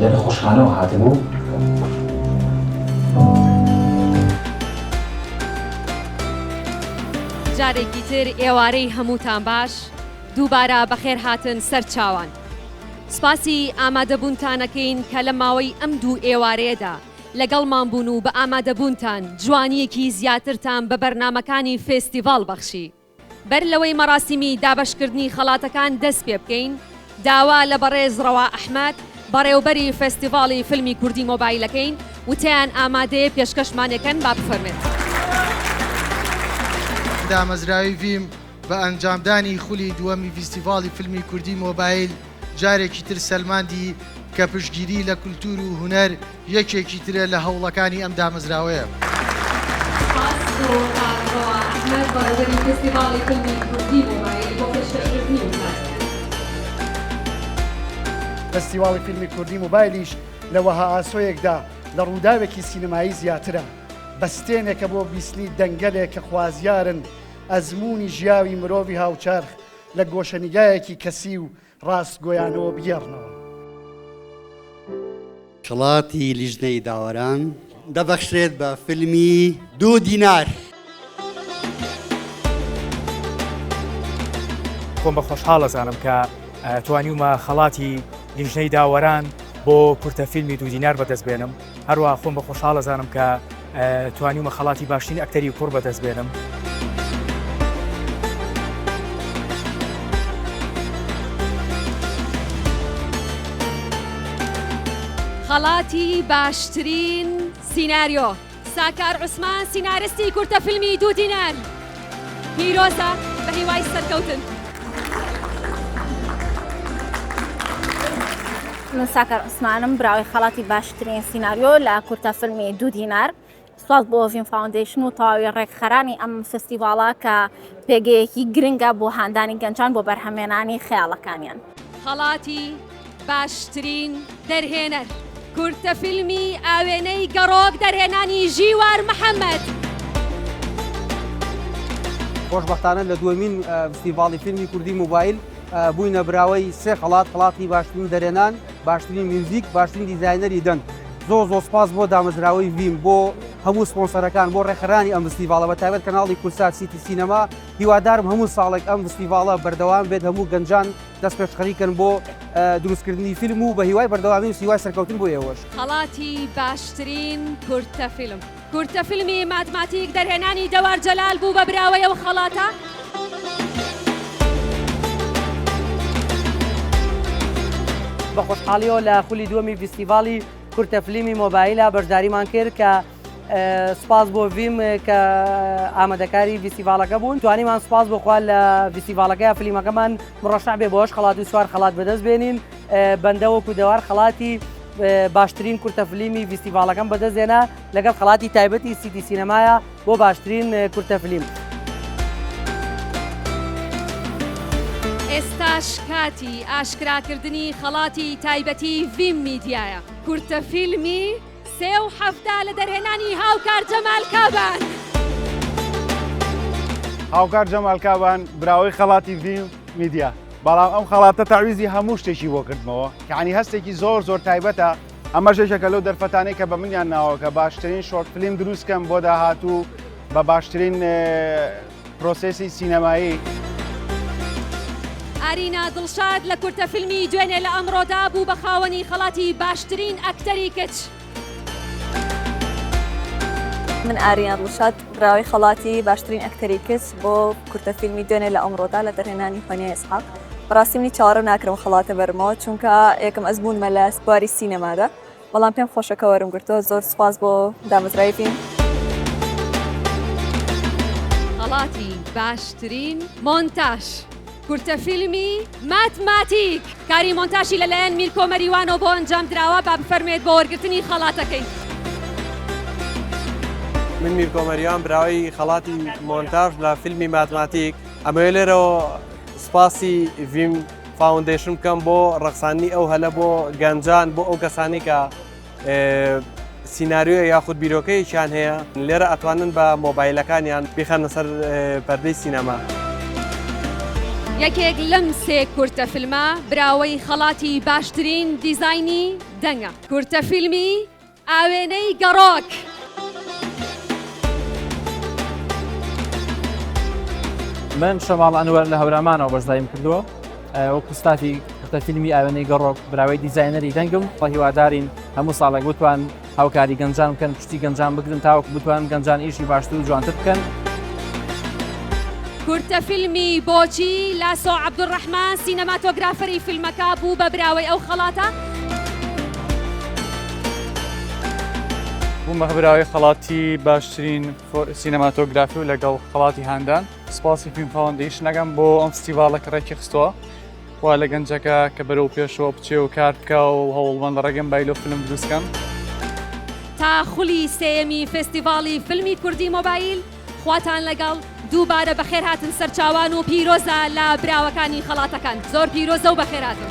لە نەخۆشخانەوە هاتبوو. جارێکی تر ئێوارەی هەمووتان باش دووبارە بەخێر هاتن سەر چاوان. سپاسی ئامادەبوونتانەکەین کە لە ماوەی ئەم دوو ئێوارەیەدا لەگەڵمان بوون و بە ئامادەبوونتان جوانیەکی زیاترتان بە بەرنمەکانی فێستیڤاڵ بەخشی. بەر لەوەی مەراسیمی دابەشکردنی خەڵاتەکان دەست پێ بکەین، داوا لە بەڕێز ڕەوا ئەحمەد، بەڕێوبەری فێستیڤاڵی فیلمی کوردی مۆبایل ئەکەین، وتیان ئامادەیە پێشکەشمان ئەکەن با بفەرمێت. دامەزراوی ڤیم بە ئەنجامدانی خولی دووەمی فیستیڤاڵی فیلمی کوردی مۆبایل، جارێکی تر سەلماندی کە پشتگیری لە کولتوور و هونەر یەکێکی ترە لە هەوڵەکانی ئەم دامەزراوەیە. فستیواڵی فیلمی کوردی موبایلیش لە وەها ئاسۆیەکدا لە ڕووداوێکی سینەمایی زیاترە، بەستێنێکە بۆ بیستنی دەنگەلێک کە خوازیارن ئەزموونی ژیاوی مرۆڤی هاوچەرخ لە گۆشەنیگایەکی کەسی و ڕاستگۆیانەوە بگێڕنەوە. خەڵاتی لیژنەی داوەران دەبەخشرێت بە فیلمی دوو دینار. خۆم بە خۆشحاڵ ئەزانم کە توانیومە خەڵاتی لیژنەی داوەران بۆ کورتە فیلمی دوو دینار بەدەست بێنم. هەروەها خۆم بە خۆشحاڵ ئەزانم کە توانیومە خەڵاتی باشترین ئەکتەری کوڕ بەدەست بێنم. خەڵاتی باشترین سیناریۆ، ساکار عوسمان، سینارستی کورتە فیلمی دوو دینار. پیرۆزە بە هیوای سەرکەوتن. من ساکار عوسمانم براوەی خەڵاتی باشترین سیناریۆ لە کورتە فیلمی دوو دینار سوپاس بۆ ڤین فاوندیشن و تەواوی ڕێکخەرانی ئەم فستیڤاڵە کە پێگەیەکی گرنگە بۆ هاندانی گەنجان بۆ بەرهەمێنانی خەیاڵەکانیان خەڵاتی باشترین دەرهێنەر کورتە فیلمی ئاوێنەی گەڕۆک دەرهێنانی ژیوار محەمەد. خۆشبەختانە لە دووەمین فستیڤاڵی فیلمی کوردی موبایل بووینە براوەی سێ خەڵات خڵاتی باشترین دەرێنان باشترین میوزیک باشترین دیزایەنەری دەنگ زۆ زۆ سپاس بۆ دامەزراوەی ڤیم بۆ هەموو سپۆنسەرەکان بۆ ڕێکخرانی ئەم فستیڤاڵە بە تایبەت کەناڵی کورسات سیتی سینەما هیوادارم هەموو ساڵێک ئەم فستیڤاڵە بەردەوام بێت هەموو گەنجان دەست پێشخەری کەن بۆ دروستکردنی فیلم و بە هیوای بەردەوامی و سیوای سەرکەوتن بۆ ئێوەش. خەڵاتی باشترین کورتە فیلم. کورتە فیلمی ماتماتیک دەرهێنانی دەوار جەلال بوو بە براوەی ئەو خەڵاتە. بە خۆشحاڵیەوە لە خولی دووەمی ڤیستیڤاڵی کورتە فلیمی مۆبایلا بەشداریمان کرد کە سپاس بۆ ڤیم کە ئامادەکاری ڤیسیڤالەکە بوون توانیمان سپاس بۆخوا لە ڤیسیڤالەکە فلیمەکەمان مڕەشع بێ بۆش خڵات و سوار خڵات بەدەست بێنین بەندەوەکو دەوار خڵاتی باشترین کورتە فلیمی ڤیسیڤالەکەم بەدەستێنا لەگەڵ خڵاتی تایبەتی سیتی سینەمایە بۆ باشترین کورتە فلیم. ئێستاش کاتی ئاشکراکردنی خەڵاتی تایبەتی ڤیم میدیایە کورتە فیلمی، سێ و حەفتا لە دەرهێنانی هاوکار جەمال کابان. هاوکار جەمال کابان براوەی خەڵاتی ڤیم میدیا بەڵام ئەم خەڵاتە تاویزی هەموو شتێکی بۆ کردمەوە یعنی هەستێکی زۆر زۆر تایبەتە ئەمە ژێشەکە لەو دەرفەتانەی کە بە منیان ناوەکە باشترین شۆرت فلیم دروستکەم بۆ داهاتوو بە باشترین پرۆسێسی سینەمایی. ئارینا دڵشاد لە کورتە فیلمی دوێنێ لە ئەمڕۆدا بوو بە خاوەنی خەڵاتی باشترین ئەکتەری کچ. من ئاریان ڕوشاد براوی خەڵاتی باشترین ئەکتەری کچ بۆ کورتە فیلمی دوێنێ لە ئەمڕۆدا لە دەرهێنانی فەنیا ئێسحاق بەڕاستی منی چاوەڕێ ناکرم خەڵاتە بەرمەوە چونکە یەکەم ئەزموونمە لە بواری سینەمادا بەڵام پێم خۆشە کە وەرم گرتۆ زۆر سوپاس بۆ دامەزرای بین. خەڵاتی باشترین مۆنتاژ کورتە فیلمی ماتماتیک کاری مۆنتاشی لە لایەن میرکۆ مەریوانەوە بۆ ئەنجام دراوە با بفەرموێت بۆ وەرگرتنی خەڵاتەکەی. من میرکۆ مەریوان براوەی خەڵاتی مۆنتاژ لە فیلمی ماتماتیک ئەمەوێ لێرەوە سوپاسی ڤیم فاوندەیشن بکەم بۆ ڕەخساننی ئەو هەلە بۆ گەنجان بۆ ئەو کەسانی کە سینناریۆ یاخود بیرۆکەیەکیان هەیە لێرە ئەتوانن بە مۆبایلەکانیان بخەنە سەر پەردەی سینەما. یەکێک لەم سێ کورتە فیلمە براوەی خەڵاتی باشترین دیزاینی دەنگە کورتە فیلمی ئاوێنەی گەڕۆک. من شەماڵ ئەنوەر لە هەورامانەوە بەشدایم کردووە وەکو ستافی کورتە فیلمی ئاوێنەی گەڕۆک براوەی دیزایەنەری دەنگم بە هیوادارین هەموو ساڵێک بتوان هاوکاری گەنجان بکەن پشتی گەنجان بگرن تاوەکو بتوان گەنجان ئیشی باشتر و جوانتر بکەن. کورتە فیلمی بۆچی لاسۆ عەبدولڕەحمان سینەماتۆگرافەری فیلمەکە بوو بە براوەی ئەو خەڵاتە، بوومە هەبراوی خەڵاتی باشترین سینەماتۆگرافی و لەگەڵ خەڵاتی هاندان سپاسی فیلم فاوندیشنەکەم بۆ ئەم فستیڤالە کە ڕێکی خستووە وا لە گەنجەکە کە بەرەو پێشەوە بچێ و کار بکە و هەوڵمەند ڕێگەم بایلۆ فیلم دروستکەم. تا خولی سێیەمی فێستیڤاڵی فیلمی کوردی مۆبایل، خواتان لەگەڵ، دووبارە بەخێر هاتن سەرچاوان و پیرۆزە لە براوەکانی خەڵاتەکان زۆر پیرۆزە و بەخێر هاتن.